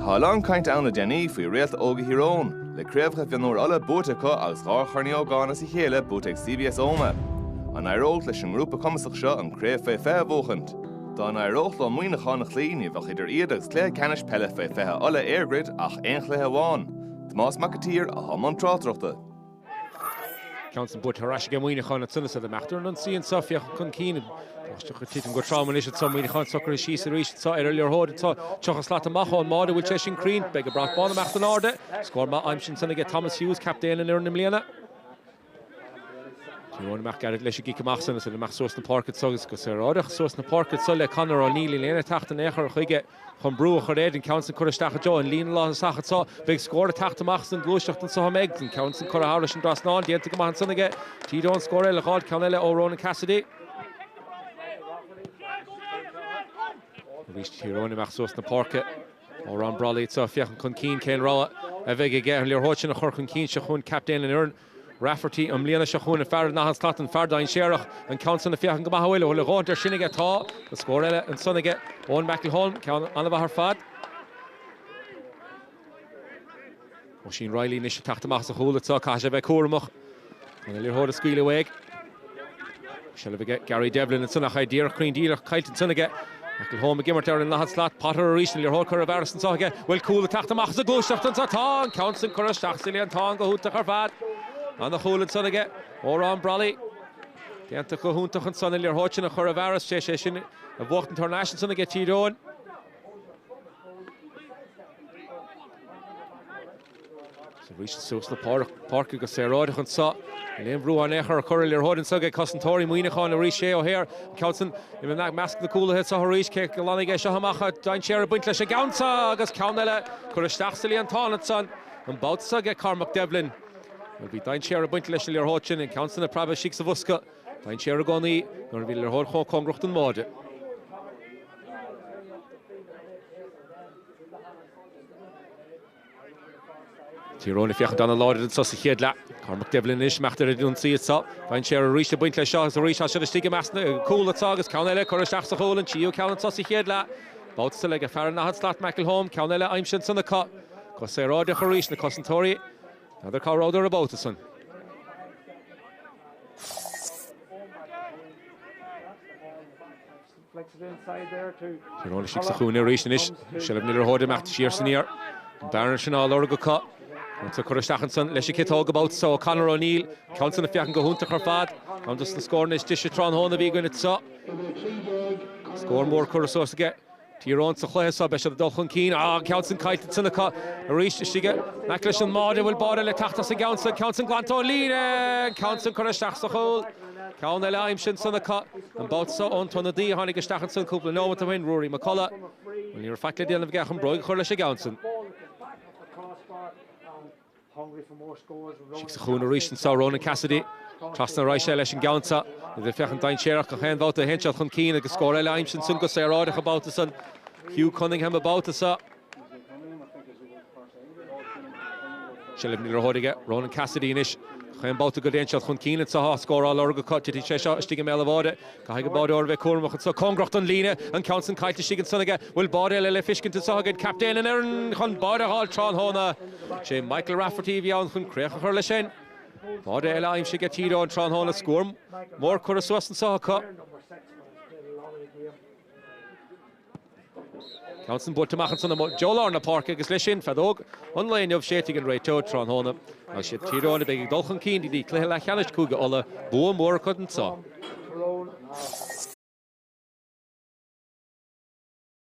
Tá a lán cainte ann le déanaí faoi réalta óga Thír Eoghain, le Craobhacha Mhionúir Uladh buaite acu agus dhá Chorn Uí Ógáin as a chéile buaite ag CBS Omagh. An éireodh leis an ngrúpa cumasach seo an Craobh Faoi 20 a bhuachaint? Dá n-éireodh leo Muineachán a chloí ní bheadh idir iad agus Cluiche Ceannais Peile Faoi 20 Uladh, EirGrid, ach aon chluiche amháin. Tomás Mac an tSaoir atá i mbun tráchtaireachta. Ceann san buailte ar ais aige Muineachán le tinneas eile. Ag imeacht ar an ionsaí anseo, féachaint chun cinn. Báisteach ag titim go trom anois anseo, Muineachán socraithe síos arís anseo ar an liathróid anseo. Tríocha slat amach ón mbáide, an bhfuil sé sin cruinn? Beidh an brat bán ag imeacht in airde. Scór maith aimsithe ansan aige Thomas Hughes, captaen an fhoireann i mbliana. Tír Eoghain ag imeacht gairid leis an gcic amach san, is ansan amach suas na páirce anseo, is go saoráideach suas na páirce anseo le Conor O'Neill, níl éinne ag teacht in aon chor chuige. Chun brú a chur air, an ceann san curtha isteach i dtreo an líne lántosach anso, an mbeidh scór ag teacht amach as an gluaiseacht anso, an mbeidh an ceann san curtha thairis an dtrasnán, déanta go maith ansan aige. Tír Eoghain scór eile dh'fháilt, ceann eile ó Ronan Cassidy. Arís Tír Eoghain amach suas na páirce. Odhrán Brolly anso ag féachaint chun cinn cén rogha a bheidh aige ar an liathróid sin a chur chun cinn seo chugainn, captaen an fhoireann. Rafferty, i mbliana seo chugainn, fear an daichead slat, an fear dainséarach, an ceann san ag féachaint go maith, an bhfuil a dhóthaint ar sin aige. Tá an scór eile ansan aige, Eoin McElholm, ceann an-mhaith ar fad. Oisín Reilly anois ag teacht amach as a chúl anso, caithfidh sé a bheith cúramach chun an liathróid a scaoileadh uaidh. Seilbh aige, Gary Devlin ansan ach é díreach cruinn díreach caillte ansan aige. McElholm ag imirt ar an daichead slat, Potter arís an liathróid curtha i bhfearas anseo aige, bhfuil cúl ag teacht amach as an gluaiseacht anseo, tá an ceann san curtha isteach sa líontán go hiontach ar fad. Ana chúl ansan aige, Odhrán Brolly. Déanta go hiontach ansan an liathróid sin a chur i bhfearas, is é sin a bhuachtaint thar n-ais ansan aige Tír Eoghain. Seo arís iad suas na páirce go saoráideach anseo. Níl aon bhrú in aon chor á chur ar an liathróid anseo ag cosantóirí Mhuineacháin arís, Shay O'Hare an ceann sin i measc na gcúlaithe anseo arís, cé a ghlanfaidh é seo amach, tá dainséar ag baint leis an gceann seo agus ceann eile curtha isteach sa líontán anseo an babhta seo ag Cormac Devlin. Bhuel, bhí dainséar ag baint leis an liathróid sin, an ceann sin ag preabadh istigh sa bhosca, dainséar i gcónaí nuair a bhíonn liathróid chomh cóngarach don mbáide. Tír Eoghain ag féachaint an-láidir anso sa chéad leath. Cormac Devlin anois ag imeacht ar an ionsaí anso. Faigheann sé arís an baint leis seo agus arís as sin istigh i measc na gcúlaithe agus ceann eile curtha isteach sa chúl, an tríú ceann anso sa chéad leath. Babhta so ag fear an daichead slat McElholm, ceann eile aimsithe ansan acu. Go saoráideach arís na cosantóirí. N'fheadar cá rabhdar an babhta san. Tír Eoghain istigh sa chúinne arís anois. Seilbh na liathróide ag imeacht siar is aniar. An bearna sin á lorg acu. Ceann so curtha isteach ansan leis an gciotóg an babhta so ó Conor O'Neill, ceann san ag féachaint go hiontach ar fad. Ceann dos na scóranna is deise tráthnóna a bhí againn anseo. Scór mór curtha suas aige. Tír Eoghain sa chluiche so beidh siad ag dul chun cinn. Á, an ceann san caillte ansan acu arís istigh. In aice leis an mbáide an bhfuil báide le teacht as an gceann san? Ceann san glanta ón líne! An ceann san curtha isteach sa chúl. Ceann eile aimsithe ansan acu, an babhta so, ón t-ionadaí a tháinig isteach ansan cúpla neomat ó shin, Ruairí McCullagh. Bhuel, ní raibh faic le déanamh aige ach an bróig a chur leis an gceann san. Istigh sa chúinne arís anso, Ronan Cassidy. Trasna ar ais leis an gceann so. Iad ag féachaint dainséarach gach aon bhabhta a théann siad chun cinn, agus scór eile aimsithe ansan go saoráideach an babhta san. Hugh Cunningham an babhta so. Seilbh na liathróide aige Ronan Cassidy anois. Chaon babhta go dtéann siad chun cinn anseo tá scór á lorg acu. Titfidh sé seo istigh i mbéal an bháide. Caithfidh an báideoir a bheith cúramach anseo. Cóngarach don líne. An ceann san caillte istigh ansan aige. Bhfuil báide eile le feiscint anseo againn? Captaen an fhoireann chun báide a fháil tráthnóna. Sé Michael Rafferty a bhí ann chun críoch a chur leis sin. Báide eile aimsithe aige Tír Eoghain tráthnóna. Scór mór curtha suas anso acu. Ceann san buailte amach ansan i dtreo lár na páirce agus leis sin, feadóg an lae inniu séidte ag an réiteoir tráthnóna. Agus s'iad Tír Eoghain a bheidh ag dul chun cinn go dtí cluiche leathcheannais Chúige Uladh, bua mór acu anseo.